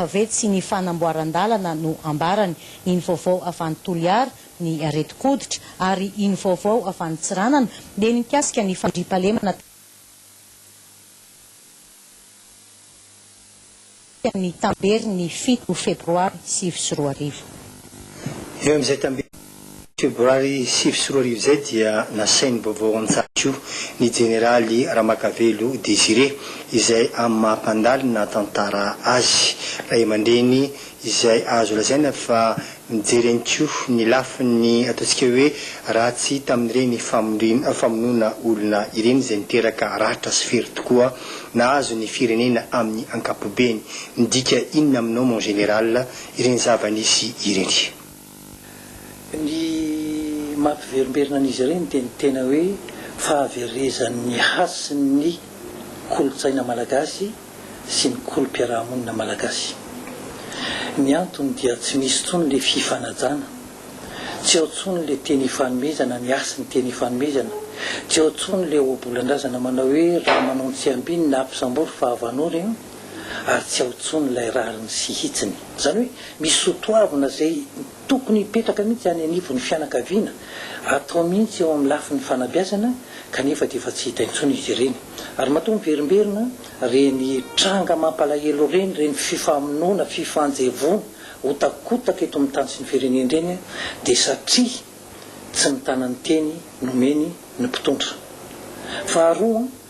Fa ve tsy ny fanamboaran-dalana no ambarany? Iny vaovao avy any Toliara, ny aretin-koditra, ary iny vaovao avy any Tsiranana dia ny mikasika ny fandriampahalemana taty amin'ny tamberin'ny fito febroary sivy sy roa arivo. Eo amin'izay tamberin'ny. Febroary sivy sy roa arivo izay dia nasain'ny vaovao an-tsakio ny jeneraly Ramakavelo Désiré izay amin'ny maha mpandalo ny nahatantara azy, ray aman-dreny izay azo lazaina fa nijery ihany koa ny lafiny ataontsika hoe ratsy tamin'ireny famonoana olona ireny izay niteraka ratra sy fery tokoa nahazo ny firenena amin'ny ankapobeny. Midika inona aminao mon général ireny zava-nisy ireny? Ny mampiverimberina an'izy ireny dia ny tena hoe fahaverezan'ny hasin'ny kolontsaina malagasy sy ny kolom-piarahamonina malagasy. Ny antony dia tsy misy intsony ilay fifanajana, tsy ao intsony ilay teny ifanomezana, ny hasin'ny teny ifanomezana, tsy ao intsony ilay ohabolan-drazana manao hoe raha manao ny tsiambiny na ampisambory fa avanory. ary tsy ao tsony ilay rariny sy hitsiny. Izany hoe misy sotoavina izay tokony hipetraka mihitsy any anivon'ny fianakaviana, atao mihitsy eo amin'ny lafiny fanabeazana kanefa dia efa tsy hita intsony izy ireny. Ary matoa miverimberina ireny tranga mampalahelo ireny, ireny fifamonoana, fifanjevoana, hotakotaka eto amin'ny tany sy ny firenena ireny dia satria tsy mitana ny teny nomeny ny mpitondra. Faharoa.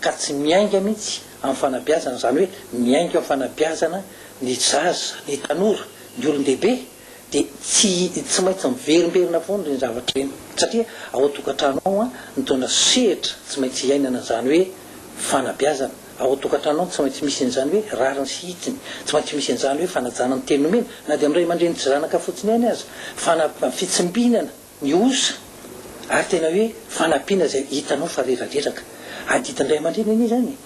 ka tsy miainga mihitsy amin'ny fanabeazana, izany hoe miainga amin'ny fanabeazana ny zaza, ny tanora, ny olon-dehibe dia tsy tsy maintsy miverimberina foana ireny zavatra ireny satria ao an-tokantrano ao an, nitondra sehatra tsy maintsy hiainana an'izany hoe fanabeazana, ao an-tokantrano ao no tsy maintsy misy an'izany hoe rariny sy hitsiny, tsy maintsy misy an'izany hoe fanajana ny teny nomena na dia amin'ny ray aman-dreny tsy zanaka fotsiny ihany aza, fana- fitsimbinana ny osa ary tena hoe fanampiana izay hitanao fa reradreraka, adidin'ny ray aman-dreny anie izany e!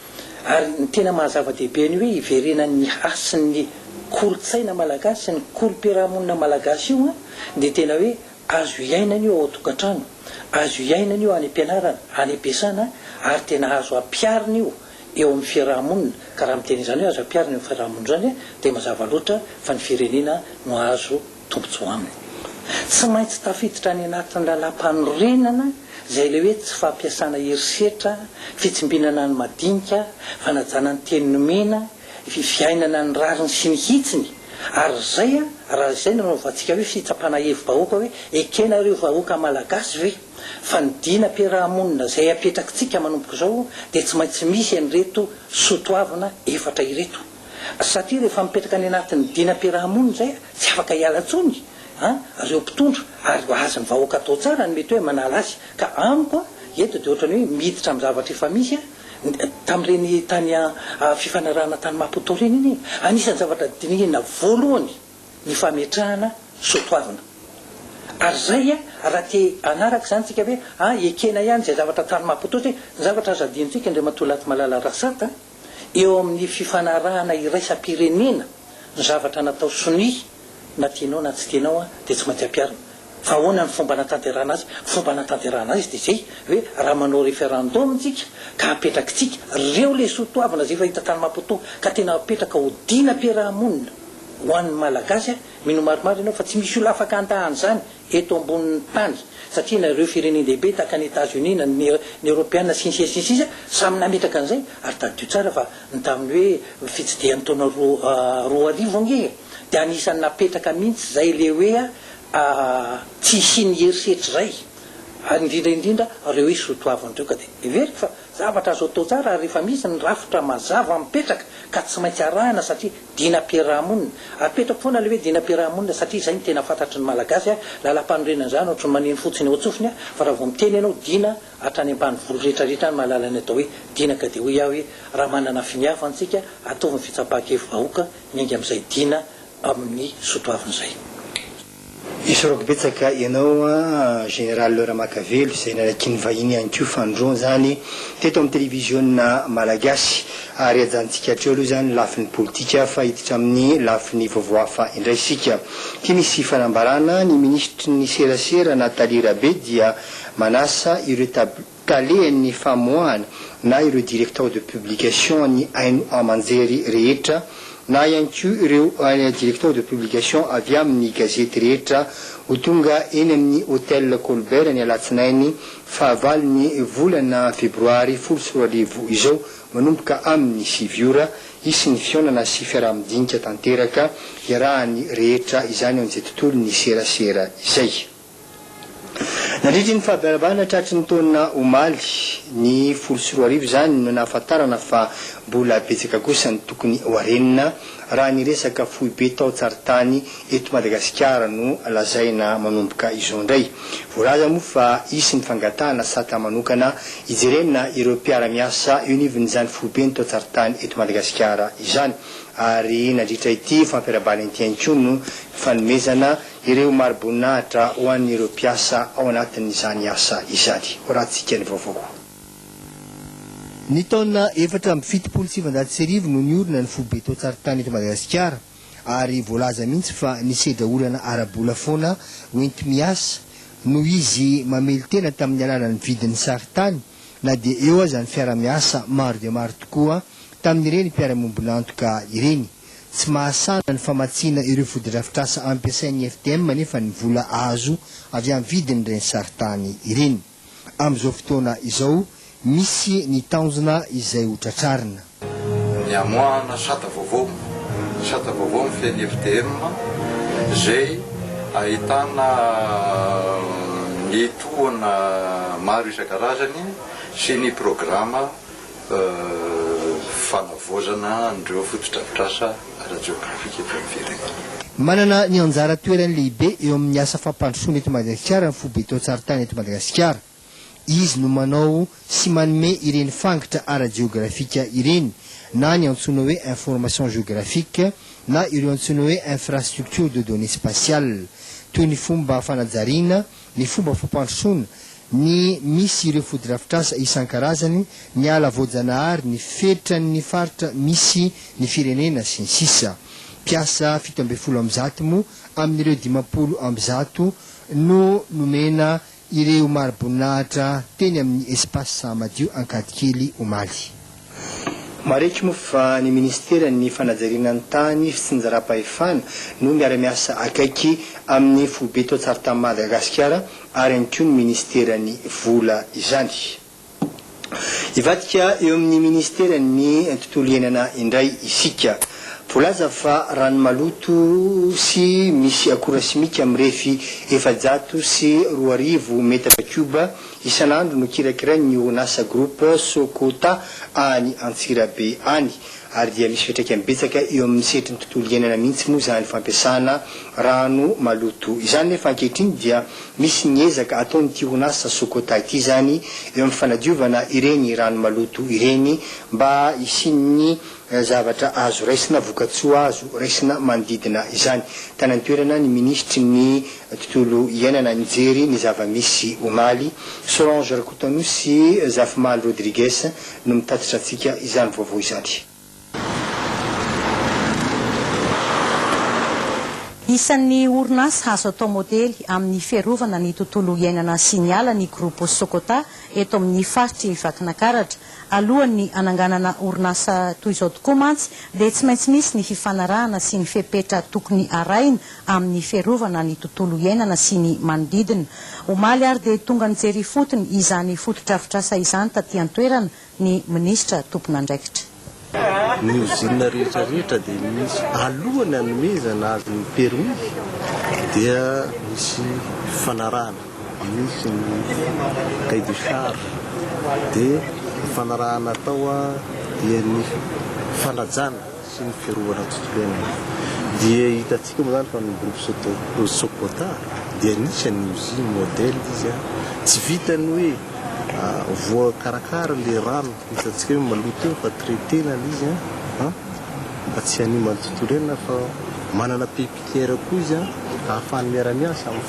ary ny tena maha zava-dehibe ny hoe hiverenan'ny hasin'ny kolontsaina malagasy sy ny kolom-piarahamonina malagasy io an, dia tena hoe azo hiainana io ao an-tokantrano, azo hiainana io any am-pianarana, any am-piasana ary tena azo ampiharina io eo amin'ny fiarahamonina, ka raha miteny izany hoe azo ampiharina eo amin'ny fiarahamonina izany dia mazava loatra fa ny firenena no azo tojo aminy. Tsy maintsy tafiditra any anatin'ny lalàmpanorenana izay ilay hoe tsy fampiasana herisetra, fitsimbinana ny madinika, fanajana ny teny nomena, fiainana ny rariny sy ny hitsiny, ary izay raha izay no anaovantsika hoe fitsapana hevi-bahoaka hoe ekena ireo vahoaka malagasy ve? Fa ny dinam-piaraha-monina izay apetrakitsika manomboka izao dia tsy maintsy misy an'ireto soatoavina efatra ireto. Satria rehefa mipetraka any anatin'ny dinam-piaraha-monina izay tsy afaka hiala intsony ireo mpitondra ary azon'ny vahoaka atao tsara ny mety hoe manala azy ka amiko eto dia ohatran'ny hoe miditra amin'ny zavatra efa misy tamin'ireny tany fifanarahana tany Maputo ireny anie anisan'ny zavatra dinihina voalohany ny fametrahana soa toavina ary izay raha te hanaraka izany isika ve ekena ihany izay zavatra tany Maputo satria ny zavatra azo hadinontsika Andriamatoa Latimalala Rasata eo amin'ny fifanarahana iraisam-pirenena ny zavatra natao sonia na tianao na tsy tianao dia tsy maintsy ampiharina. Fa ahoana ny fomba hanatanterahana azy? Ny fomba hanatanterahana azy dia izay hoe raha manao referendum tsika ka apetrakitsika reo lesoa toavina izay efa hita tany Maputo ka tena apetraka ho dinam-piaraha-monina ho an'ny Malagasy mino maromaro ianao fa tsy misy olona afaka handà an'izany eto ambonin'ny tany satria na ireo firenen-dehibe tahaka an'i Etazonia na ny Eoropeana sy ny sisa sy ny sisa samy nametraka an'izay ary tadidio tsara fa ny tamin'ny hoe fitsidihan'ny taona roa roa arivo ange e! dia anisan'ny napetraka mihitsy izay ilay hoe tsy hisian'ny herisetra izay ary indrindra indrindra ireo hoe soatoavina ireo ka dia heveriko fa Zavatra azo atao tsara ary efa misy ny rafitra mazava mipetraka ka tsy maintsy arahina satria dinam-piaraha-monina. Apetrako foana ilay hoe dinam-piaraha-monina satria izay no tena fantatry ny Malagasy a! Lalam-panorenana izany ohatry ny maneno fotsiny eo an-tsofiny a! Fa raha vao miteny ianao dina hatrany ambanivolo rehetra rehetra any mahalala ny atao hoe dina ka dia hoy aho hoe raha manana finy hafa antsika ataovy ny fitsapan-kevi-bahoaka miainga amin'izay dina amin'ny soatoavina izay. Esorako betsaka ianao Général Laura Makavelo izay nanakian'ny vahiny ihany koa Fanindroany izany teto amin'ny Televiziona Malagasy ary ajanontsika hatreo aloha izany ny lafiny politika fa hiditra amin'ny lafiny vaovao hafa indray isika. Ity misy fanambarana, ny Minisitry ny Serasera Nathalie Rabe dia manasa ireo tab. talehan'ny famoahana na ireo directeur de publication an'ny haino aman-jery rehetra na ihany koa ireo directeur de publication avy amin'ny gazety rehetra ho tonga eny amin'ny Hotel Colbert ny alatsinainy fahavalon'ny volana febroary folo sy roa arivo izao manomboka amin'ny sivy ora hisy ny fihaonana sy fiaraha-midinika tanteraka iarahan'ny rehetra izany ao amin'izay tontolon'ny serasera izay. Nandritry ny fahaberavana tratry ny taona omaly, ny folo sy roa arivo izany, no nahafantarana fa mbola betsaka kosa ny tokony ho harenina raha ny resaka foibe taon-tsarintany eto Madagasikara no lazaina manomboka izao indray. Voalaza moa fa hisy ny fangatahana sata manokana hijerena ireo mpiara-miasa eo anivon'izany foiben'ny taon-tsarintany eto Madagasikara izany ary nandritra ity fampiarahabana ity ihany koa no fanomezana Ireo mari-boninahitra ho an'ireo mpiasa ao anatin'izany asa izany. Horahantsika ny vaovao. Ny taona efatra amby fitopolo sy sivinjato sy arivo no niorina ny foibe tao Tsarintany eto Madagasikara ary voalaza mihitsy fa nisedra olana ara-bola foana hoenti-miasa noho izy mamelon-tena tamin'ny alalan'ny vidin'ny sarintany na dia eo aza ny fiara-miasa maro dia maro tokoa tamin'ireny mpiara-miombon'antoka ireny. Tsy mahasahana ny famatsiana ireo fotodrafitrasa ampiasain'ny FDM anefa ny vola azo avy amin'ny vidin'ireny sarintany ireny. Amin'izao fotoana izao, misy ny tanjona izay ho tratrarina. Ny hamoahana sata vaovao. Sata vaovao mifehy ny FDM izay ahitana ny tohana maro isan-karazany sy ny programa fanavaozana an'ireo fotodrafitrasa ara-jeografika eto amin'ny firenena. Manana ny anjara toerany lehibe eo amin'ny asa fampandrosoana eto Madagasikara ny foibe tao-Tsarintany eto Madagasikara. Izy no manao sy manome ireny fangitra ara-jeografika ireny, na ny antsoina hoe information géographique na ireo antsoina hoe infrastructures de données spatiales, toy ny fomba fanajariana, ny fomba fampandrosoana, ny misy ireo fotodrafitrasa isan-karazany, ny ala voajanahary, ny fetran'ny faritra misy ny firenena, sy ny sisa Mpiasa fito ambin'ny folo amby zato moa amin'ireo dimampolo amby zato no nomena ireo mari-boninahitra teny amin'ny Espace Sahamadio Ankadikely, omaly. Mariky moa fa ny minisiteran'ny fanajariana ny tany, fitsinjaram-pahefana no miara-miasa akaiky amin'ny foibe tao Tsaritanin'i Madagasikara ary ihany koa ny minisiteran'ny vola izany. Hivadika eo amin'ny minisiteran'ny tontolo iainana indray isika. Voalaza fa rano maloto sy misy akora simika mirefy efajato sy roa arivo metatra kioba Isan'andro no kirakirain'ny orinasa Groupe Sokota any Antsirabe any ary dia misy fiantraikany betsaka eo amin'ny sehatry ny tontolo iainana mihitsy moa izany fampiasana rano maloto izany nefa ankehitriny dia misy ny ezaka ataon'ity orinasa Sokota ity izany eo amin'ny fanadiovana ireny rano maloto ireny mba hisian'ny zavatra azo raisina, vokatsoa azo raisina manodidina izany. Tany an-toerana ny minisitry ny tontolo iainana nijery ny zava-misy omaly. Solange Rakotoanosy sy Zafimaly Rodrigues no mitatitra antsika izany vaovao izany. Isan'ny orinasa azo atao modely amin'ny fiarovana ny tontolo iainana sy ny ala ny Groupe Sokota eto amin'ny faritr'i Vakinakaratra. Alohan'ny hananganana orinasa toy izao tokoa mantsy dia tsy maintsy misy ny fifanarahana sy ny fepetra tokony harahina amin'ny fiarovana ny tontolo iainana sy ny manodidina. Omaly ary dia tonga nijery ifotony izany fotodrafitrasa izany taty an-toerana ny minisitra tompon'andraikitra. Ny ozinina rehetra rehetra dia misy alohany anomezana azy ny permis dia misy fifanarahana misy ny cahier de charge dia fifanarahana atao dia ny fanajana sy ny fiarovana ny tontolo iainana dia hitantsika moa izany fa ny groupe soto socota dia anisan'ny usine modèle izy a tsy vitan'ny hoe voakarakara ilay rano Hitantsika hoe maloto eo fa traiter na le izy an! an! fa tsy haniman'ny tontolo iainana fa manana pépinière koa izy an! ahafahany miara-miasa amin'ny.